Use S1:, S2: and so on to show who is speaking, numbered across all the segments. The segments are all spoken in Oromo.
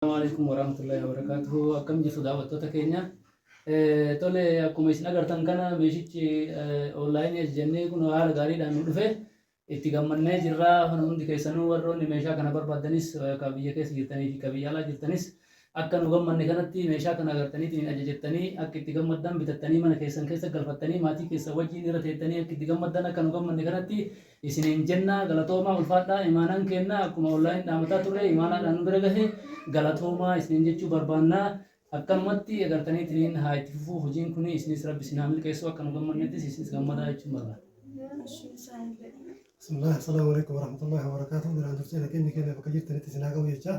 S1: Assalaamu Aleykum Warahmatullahi Wabarakatuhu Akkam jirtu daawwattoota keenya Tole akkuma isin agartan kana meeshichi online ajajannee kun haala gaariidhaan nu dhufe itti gammannee jirra kan hundi keessanuu warroonni meeshaa kana barbaaddanis ka biyya keessa jirtanii fi ka biyya alaa jirtanis akka nu gammanne kanatti meeshaa kana agartaniitiin ajajattanii akka itti gammaddan bitattanii mana keessan keessa galfattanii maatii keessan wajjin irra teettanii akka itti gammaddan akka nu gammanne kanatti isiniin jennaa galatoomaa ulfaadhaa imaanaan keennaa akkuma online dhaamataa turree imaanaadhaan nu bira gahe galatoomaa isiniin jechuu barbaannaa akkanumatti egartaniitiniin haa itti fufuu hojiin kuni isinis rabbi isin haa milkeessuu akka nu gammannettis isinis gammadaa jechuun barbaanna. Bismillah,
S2: assalamu alaikum warahmatullahi wabarakatuh. Duraan dursee nageenyi keenya bakka jirtanitti isin haa ga'u jechaa.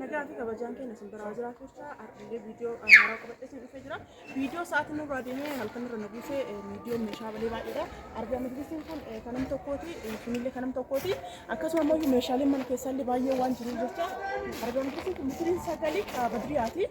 S3: Nagaa fi kabajaan keenya isin biraa jiraatu jecha har'illee viidiyoo haaraa qabadhee isin dhufee jira. Viidiyoo sa'aatiin nurraa deemee halkan irra na buusee viidiyoon meeshaa balee baay'eedha. Argaa majlisiin kun kan nam tokkooti, kunillee kan nam tokkooti. Akkasuma immoo meeshaaleen mana keessaallee baay'ee waan jiruuf jecha argaa majlisiin kun misiriin sagalee badriyaati.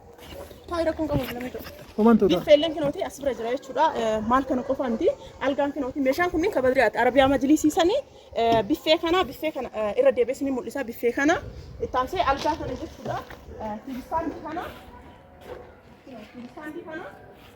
S3: Taa'ee rakkoon qabu hin lamee ta'u. Homaan ta'u ta'a. Biffeelleen kinooti as bira jira jechuudha. Eh, Maal kana qofa miti. Algaan kinooti meeshaan kunniin kan badriyaati. Arabiyaa majlisii sanii eh, biffee kana biffee kana eh, irra deebi'ee ni mul'isa biffee kana. Itti aansee algaa kana jechuudha. Eh, Tiibistaandii kana. Tiibistaandii kana.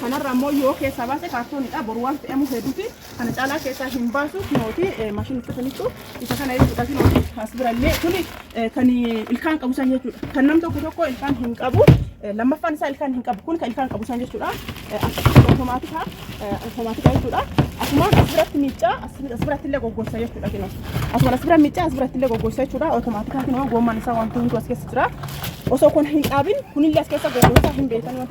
S3: Kanarra ammoo yoo keessaa baase kaartoonidha. Boru waan fe'amu hedduuti. Kana caalaa keessaa hin baasu. Kinooti maashinni uffataniitu isa kana jechuudha. Kinooti as birallee kuni kan ilkaan qabu san jechuudha. Kan nam tokko tokko ilkaan hin qabu. Lammaffaan isaa ilkaan hin qabu. Kun kan ilkaan qabu san jechuudha. Automaatika automaatika jechuudha. Asuma as biratti miiccaa as biratti illee goggossa jechuudha kinoo. Asuma as bira miiccaa as biratti illee goggossa jechuudha. Automaatika kinoo goomman isaa wanti hunduu as keessa jira. Osoo kun hin dhaabin kunillee as keessa goggossa hin beekan.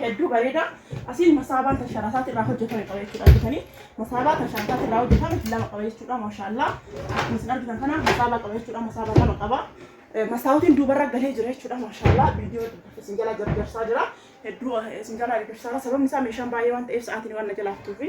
S3: hedduu bareeda asiin masaabaan kan sharasaati irraa hojjetame qaba jechuudha argitanii masaabaa kan sharasaati irraa hojjetame lama qaba jechuudha maashaallah akkuma isin argitan kana masaabaa qaba jechuudha masaabaa lama qaba Eh, masaawotiin duubarra galee jira jechuudha maashaallah viidiyoo isin jalaa gargaarsaa jira hedduu eh, isin jalaa gargaarsaa jira sababni isaa meeshaan baay'ee waan ta'eef sa'aatiin waan na jalaaftuufi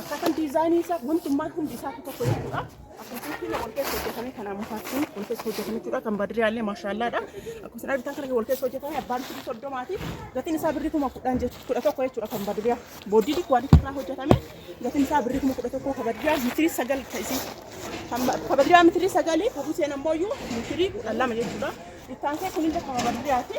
S3: Akkaataan diizaayinii isaa wantummaan hundi isaa tokko jechuudha. Akkasumas wal keessa hojjetamee kan ammafaattiin wal keessa hojjetame jechuudha. Kan badriyaa illee maashaallaadha. Akkasumas argitan kana wal keessa hojjetame abbaan birrii soddomaati. Gatiin isaa birrii kuma kudhan jechuudha. Kudha tokko jechuudha kan badriyaa. Booddii kuwaalitii irraa hojjetame gatiin isaa birrii kuma kudha tokko kan badriyaa mitirii sagal ta'isi. Kan badriyaa mitirii sagalii kan Huseen ammoo iyyuu mitirii kudha lama jechuudha. Bittaan kee kun illee kan badriyaati.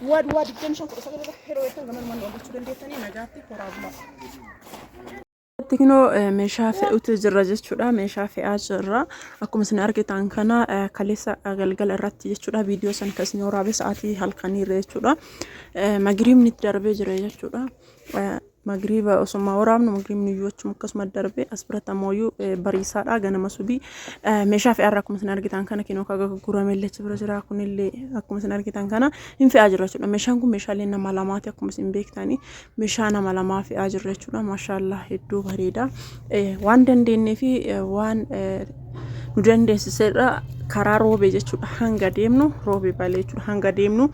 S3: Duwwaa duwwaa 25 19 irratti yeroo eegdan gama numaan nu argachuu dandeettanii nagaatti horaa bulaa. Tiknoo eh, meeshaa fe'utu jirra jechuudha. Meeshaa fe'aa jirra. Akkuma isin argitan kana eh, kaleessa eh, galgala irratti jechuudha. Viidiyoo san kan isin waraabee sa'aatii halkaniirra jechuudha. Magiriibni itti darbee jira jechuudha. Magriiba osuma waraabnu magriibni iyyuu achuma akkasuma darbe as biratti ammoo iyyuu bariisaadha ganama subii meeshaa fe'aarra akkuma isin argitan kana kinoo kaga gurgurame illee achi bira jira kunillee akkuma isin argitan kana hin fe'aa jirra jechuudha meeshaan kun meeshaalee nama lamaati akkuma isin beektani meeshaa nama lamaa fe'aa jirra jechuudha maashaallah hedduu bareeda waan dandeenyee fi waan nu dandeessiserra karaa roobee jechuudha hanga deemnu roobee balee jechuudha hanga deemnu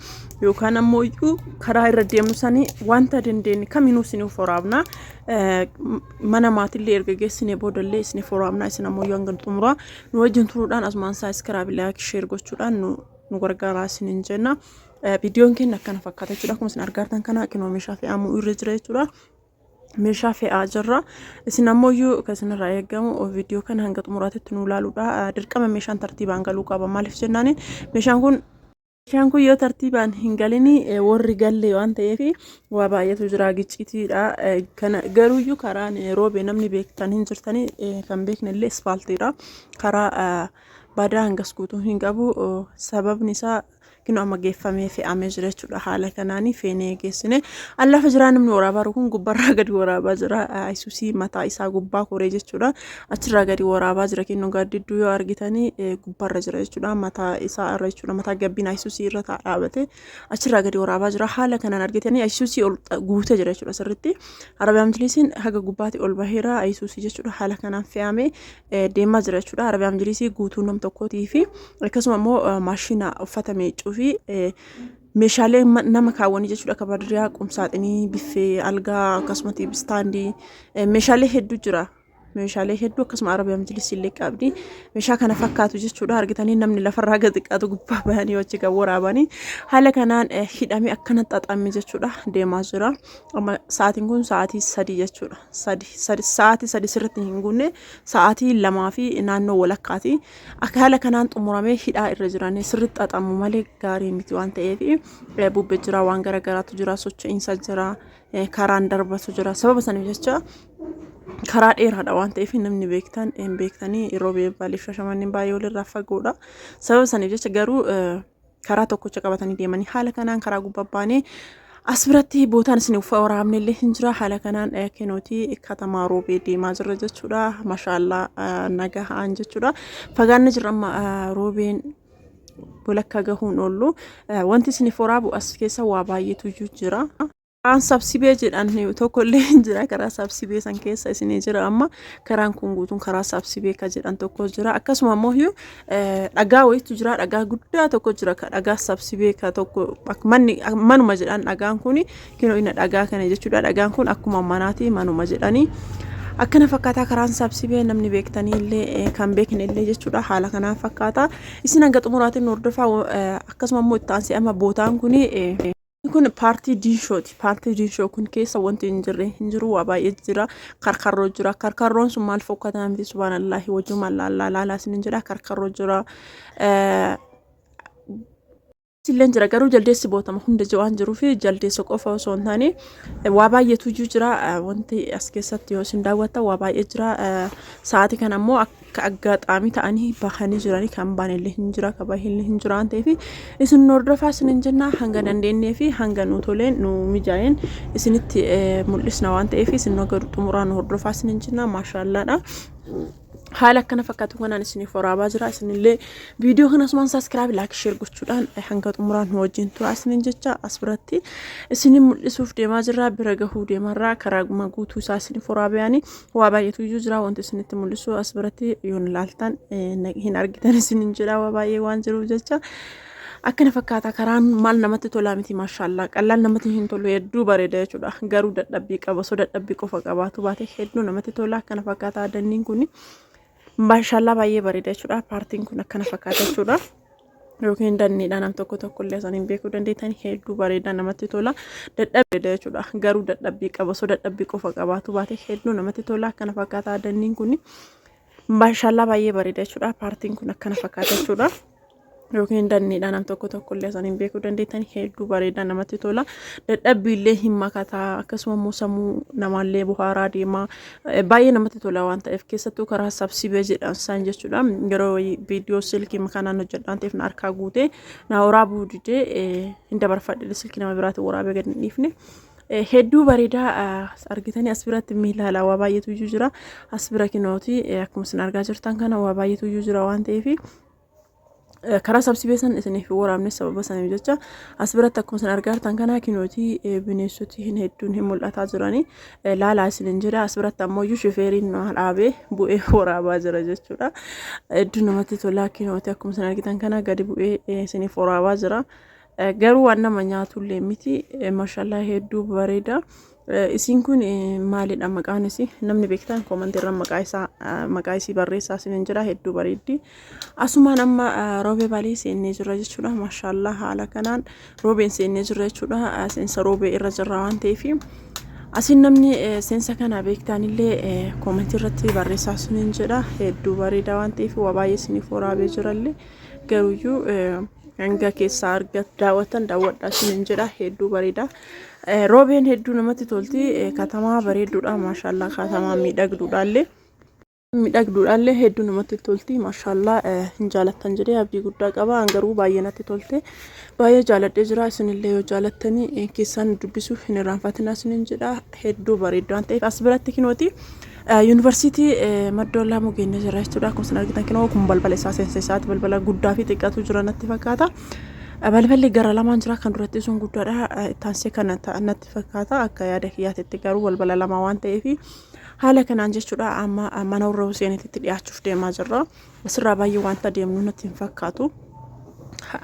S3: yookaan ammoo iyyuu karaa irra deemnu sanii wanta dandeenye kaminuu isiniif waraabna Eh, m- mana maatillee erga geessine boodallee isiniif waraabna isin ammoo yoo hanga xumuraa nu wajjin turuudhaan asumaan saabskraabii laayik sheer gochuudhaan nu nu gargaaraa isiniin jenna Eh, viidiyoon keenya akkana fakkaata jechuudha akkuma isin argaartan kana kinoo meeshaa fe'amuu irra jira jechuudha meeshaa fe'aa jirra isin ammoo iyyuu kan isinirraa eegamu viidiyoo kana hanga xumuraatitti nu ilaaluudha Eh, dirqama meeshaan tartiibaan galuu qaba maaliif jennaaniin meeshaan kun Bishaan kun yoo tartiibaan hin galini warri galle waan ta'eef waa baay'eetu jira giccitiidha. Kana garuuyyuu karaan roobe namni beektan hin jirtani kan beekne illee ispaaltiidha. Karaa badaa hangas guutuu hin qabu sababni isaa kinu amma geeffamee fe'amee jira jechuudha haala kanaanii feenee geessine allafa jiraa namni waraabaa kun gubbarraa gadi waraabaa jira ayisuusii mataa isaa gubbaa koree jechuudha. achirraa gadi waraabaa jira kennu gaaddidduu yoo argitanii gubbarra jira jechuudha mataa isaa irra jechuudha mataa gabbiin ayisuusii irra taa dhaabate achirraa gadi waraabaa jira haala kanaan argitanii ayisuusii ol guutee jira jechuudha sirritti arabiyaan majliisiin haga gubbaatti ol baheera ayisuusii jechuudha haala kanaan fe'amee deemaa jira jechuudha arabiyaan majliisii guutuu nam tokkootii fi akkasuma immoo maashina uffata miiccuu fi meeshaalee nama kaawwanii jechuudha akka badiriyaa qumsaaxinii biffee algaa akkasumatti istaandii meeshaalee hedduu jira meeshaalee hedduu akkasuma arabiyaa majlisii illee qabdi meeshaa kana fakkaatu jechuudha argitanii namni lafarraa gadi qaatu gubbaa bahanii hojii kan waraabanii haala kanaan eh, hidhamee akkana xaxamee jechuudha deemaa jira amma sa'aatiin kun sa'aatii sadii jechuudha sadii sadii sa'aatii sadii sirriitti hin guunne sa'aatii lamaa fi naannoo walakkaati akka haala kanaan xumuramee hidhaa irra jiranii sirriitti xaxamu malee gaarii miti waan ta'eef eh, bubbee jira waan garaagaraatu jira socho'iinsa jira karaan darbatu jira sababa saniif jecha karaa dheeraadha waan ta'eef namni beektan hin beektanii yeroo beebbaalif shashamaniin baay'ee walirraa fagoodha sababa saniif jecha garuu karaa tokkocha qabatanii deemanii haala kanaan karaa gubbaa baanee as biratti bootaan isin uffaa waraabne illee hin jira haala kanaan kenootii katamaa roobee deemaa jirra jechuudha mashaallaa nagahaan jechuudha fagaanni jirra amma roobeen walakkaa gahuun oollu wanti isin foraa bu'as keessa waa baay'eetu iyyuu jira. Karaan sabsibee jedhan tokko illee hin jira karaa sabsibee san keessa isin jira amma karaan kun guutuun karaa sabsibee ka jedhan tokko jira akkasuma ammoo dhagaa wayitu jira dhagaa guddaa tokko jira ka dhagaa sabsibee ka tokko manuma jedhan dhagaan kun Kinoo ina dhagaa kana jechuudha. Dhagaan kun akkuma manaati manuma jedhanii. Akkana fakkaataa karaan sabsibee namni beektanii illee eh, kan beekne illee jechuudha haala kanaan fakkaata. Isin hanga xumuraatiin nu hordofaa eh, akkasuma immoo itti aansee amma bootaan kun eh, kun paartii diinshooti. Paartii diinshoo kun keessa wanti hin jirre hin jiru waa baay'ee jira. Karkarroo jira. Karkarroon sun maal fokkataa miti subhaanallaahi wajjuma laallaa laalaa isin hin jedha karkarroo jira. Eh, Illeen jira garuu jaldeessi bootama hunda waan jiruu fi jaldeessa qofa osoo hin taane waa baay'eetu iyyuu jira wanti as keessatti yoo isin daawwatta waa baay'ee jira sa'aatii kana immoo akka aggaxaamii ta'anii bahanii jiranii kan baanillee hin jira kan baay'illee hin jira waan ta'eef isin hordofaa isin hin jennaa hanga dandeenyee fi hanga nu toleen nu mijaa'een isinitti mul'isna waan ta'eef isin hanga xumuraa nu hordofaa isin hin jennaa maashaallaadha. haala akkana fakkaatu kanaan isiniif waraabaa jira isinillee viidiyoo kana asumaan saaskiraab laak sheer gochuudhaan hanga xumuraan nu wajjin tura isinin jecha as biratti isinin mul'isuuf deemaa jirra bira gahuu deemarraa karaa guma guutuu isaa isiniif waraabayaani waa baay'eetu iyyuu jira wanti isinitti mul'isu as biratti yoon ilaaltan hin argitan isinin jedha waa baay'ee waan jiruuf jecha Akkana fakkaata karaan maal namatti tolaa miti maashaallaa qallaan namatti hin tolu hedduu bareeda jechuudha garuu dadhabbii qaba osoo dadhabbii qofa qabaatu baate hedduu namatti tola akkana fakkaata adanniin kun maashaallaa baay'ee bareeda jechuudha paartiin kun akkana fakkaata jechuudha. yookiin danniidha nam tokko tokko illee isaan hin beekuu dandeettan hedduu bareedaa namatti tola dadhabbii jechuudha garuu dadhabbii qaba osoo dadhabbii qofa qabaatu baate hedduu namatti tola akkana fakkaata adanniin kun maashaallaa baay'ee bareeda jechuudha paartiin kun akkana fakkaata jechuudha. yookiin danniidha nam tokko tokko illee san hin beekuu dandeettan hedduu bareedaa namatti tola dadhabbii illee hin makataa akkasuma immoo sammuu namaallee buhaaraa deemaa baay'ee namatti tola waan ta'eef keessattuu karaa sabsibee jedhan san jechuudha yeroo viidiyoo silkii kanaan hojjedhaan ta'eef na harkaa guutee na waraabuu didee hin dabarfadhe silkii nama biraatti waraabee gad hin dhiifne. hedduu bareedaa argitanii as biratti miilaala waa baay'eetu iyyuu jira as bira kinooti akkuma isin argaa jirtan kana waa baay'eetu iyyuu jira waan ta'eef karaa sabsibee san isiniif hin waraabne sababa saniif jecha as biratti akkuma isin argaa jirtan kanaa kinooti bineensoti hin hedduun hin mul'ataa jiranii laalaa isin hin jira as biratti ammoo iyyuu shifeeriin nu dhaabee bu'ee waraabaa jira jechuudha hedduu namatti tolaa kinooti akkuma isin argitan kanaa gadi bu'ee isiniif waraabaa jira Garuu waan nama nyaatullee miti. Mashallah hedduu bareeda. Isiin kun maalidha maqaan isii? Namni beektan koomantiirra maqaa isaa maqaa isii barreessaa isiniin jira hedduu bareeddi. Asumaan amma roobee baalii seennee jirra jechuudha. Mashallah haala kanaan roobeen seennee jirra jechuudha. Seensa roobee irra jirra waan ta'eef. Asiin namni seensa kana beektanillee koomantiirratti barreessaa isiniin jedha hedduu bareeda waan ta'eef waa baay'ee isiniif waraabee jirallee garuyyuu. hanga keessaa arga daawwatan daawwadhaa isiniin jedha hedduu bareeda roobeen hedduu namatti tolti katamaa bareedduudha maashaallaa katamaa miidhagduudhaallee miidhagduudhaallee hedduu namatti tolti maashaallaa hin jaalattan jedhee abdii guddaa qaba an garuu baay'ee natti tolte baay'ee jaaladhee jira isinillee yoo jaalattanii keessaan dubbisuuf hin irraanfatinaa isiniin jedha hedduu bareeddu waan ta'eef as biratti kinooti Yuunivarsiitii Madda Wallaamoo geenyee jirra jechuudha. Akkuma isin argitan kinoo kun balbala isaa seensa isaati. Balbala guddaa fi xiqqaatu jira natti fakkaata. Balballi gara lamaan jira kan duratti sun guddaadha. Ittaansee kan ta'an natti fakkaata. Akka yaada kiyyaatitti garuu balbala lama waan ta'eef haala kanaan jechuudha amma mana warra Huseenitti dhiyaachuuf deemaa jirra. Asirraa baay'ee wanta deemnu natti hin fakkaatu.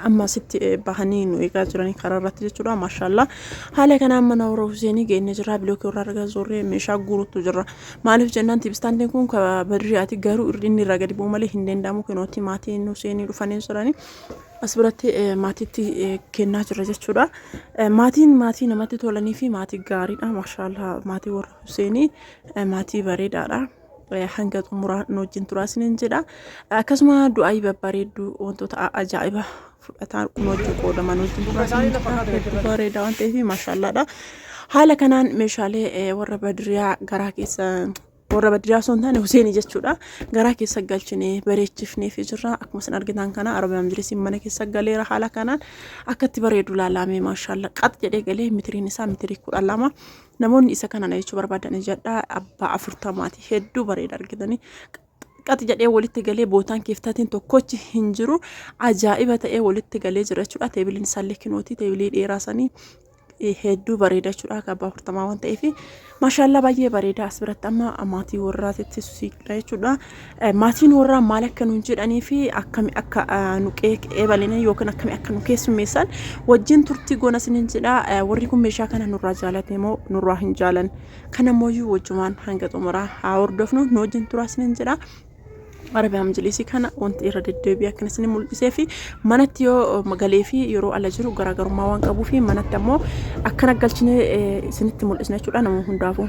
S3: amma asitti bahanii nu eegaa jiranii karaa irratti jechuudha maashaallaa haala kanaan mana warra Huseenii geenne jirra bilookii warra argaa zorree meeshaa guuruutu jirra maaliif jennaan tibistaantiin kun ka badriyaati garuu inni irraa gadi bu'u malee hin danda'amu kinooti maatiin Huseenii dhufanii jiranii as biratti maatiitti kennaa jirra jechuudha maatiin maatii namatti tolanii fi maatii gaariidha maashaallaa maatii warra Huseenii maatii bareedaadha. hanga xumuraa nu wajjin turaa isiniin jedha akkasuma du'aayii babbareedduu wantoota ajaa'iba fudhataa kun wajjin qoodaman wajjin turaa isiniin jedha hedduu bareedaa waan ta'eef maashaallaadha haala kanaan meeshaalee warra badiriyaa garaa keessa warra badiriyaa osoo hin taane Huseenii jechuudha garaa keessa galchinee bareechifnee fi jirra akkuma isin argitan kana arabaa majlisiin mana keessa galeera haala kanaan akkatti bareedu laalaamee maashaalla qax jedhee galee mitiriin isaa mitirii kudha lama Namoonni isa kana na jechuu barbaadan ijadha abbaa afurtamaati hedduu bareeda argitanii qaxi jedhee walitti galee bootaan kiiftatiin tokkochi hin jiru ajaa'iba ta'ee walitti galee jira jechuudha teebiliin isaallee kinooti teebilii dheeraa sanii hedduu bareeda jechuudha akka abbaa afurtamaa waan ta'eef maashaallaa baay'ee bareeda as biratti amma maatii warraatitti susiidha jechuudha Maatiin warraa maal akka nuun jedhanii fi akkami akka nu eebalanii yookiin akkami akka nu keessummeessan wajjin turtii goona isiniin jedha. Warri kun meeshaa kana nurraa jaalate moo nurraa hin jaalan? Kana mooyyuu wajjumaan hanga xumuraa haa hordofnu nu wajjin turaa isiniin jedha. Arabiyaa majlisii kana wanti irra deddeebi'ee akkan isin mul'isee fi manatti yoo magalee fi yeroo ala jiru garaagarummaa waan qabuu fi manatti ammoo akkana galchinee isinitti mul'isna jechuudha nama hundaafuu.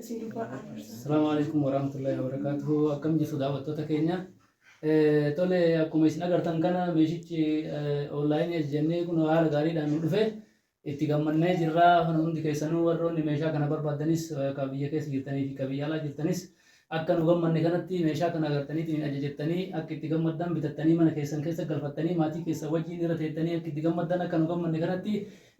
S3: isin dubbaa aarsa.
S1: Assalamu alaikum warahmatullahi wabarakatuh. Akkam jirtu daawwattoota keenya. Eh, Tole akkuma isin agartan kana meeshichi onlaayinii ajajannee kun haala gaariidhaan nu dhufe itti gammannee jirra. Kan hundi keessanuu warroonni meeshaa kana barbaaddanis eh, kan biyya keessa jirtanii fi kan biyya alaa jirtanis akka nu gammanne kanatti meeshaa kana agartaniitiin hin ajajattanii akka itti gammaddan bitattanii mana keessan keessa galfattanii maatii keessan wajjin irra teettanii akka itti gammaddan akka nu gammanne kanatti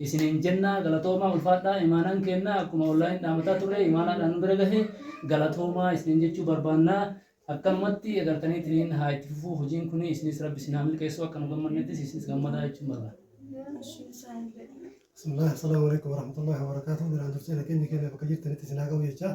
S1: isiniin jennaa galatoomaa ulfaadhaa imaanaan keennaa akkuma online dhaamataa turree imaanaadhaan nu bira gahe galatoomaa isiniin jechuu barbaannaa akkanumatti egartaniitiniin haa itti fufuu hojiin kunii isinis rabbi isin haa milkeessuu akka nu gammannettis isinis gammadaa jechuun barbaanna.
S2: Bismillah, Assalamu alaikum warahmatullahi wabarakatuh. Biraan dursee nageenyi keenya bakka jirtanitti isin haa ga'u jechaa.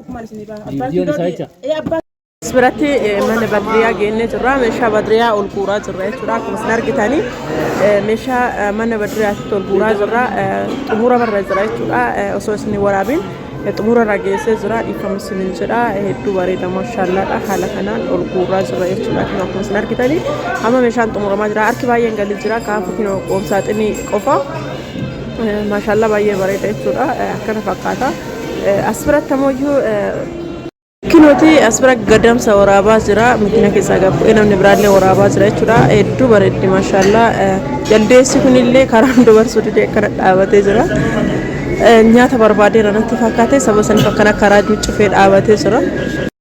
S3: Ufumaan isin irraa.
S1: Abbaan Viidiyoon kiiloo isaa di- jecha. ee, abbaan As
S3: biratti eh, mana badriyaa geennee jirra. Meeshaa badriyaa ol guuraa jirra jechuudha. Akkuma isin argitanii eh, meeshaa eh, mana badriyaatti ol guuraa jirra. Eh, Xumura barra jira jechuudha. Eh, Osoo isin hin waraabin eh, xumura irra geessee jira. Dhiifama isin hin jedha. Eh, Hedduu bareeda mashallaadha. Haala kanaan ol guuraa jirra jechuudha. Kun Akkuma isin argitanii amma meeshaan xumuramaa jira. Harki baay'een galii jira. Kaafu kinoo qoomsaaxinii qofa. Maashaallaa baay'ee bareeda jechuudha. Akkana fakkaata. As biratti ammoo iyyuu Kinuti as bira gadamsa waraabaa jira. Makiina keessaa gad bu'ee namni biraallee waraabaa jira jechuudha. Hedduu bareeddi maashaallaa. Jaldeessi kunillee karaan dabarsuu didee akkana dhaabatee jira. Nyaata barbaadee irratti fakkaatee saba saniif akkana karaa cuccufee dhaabatee jira.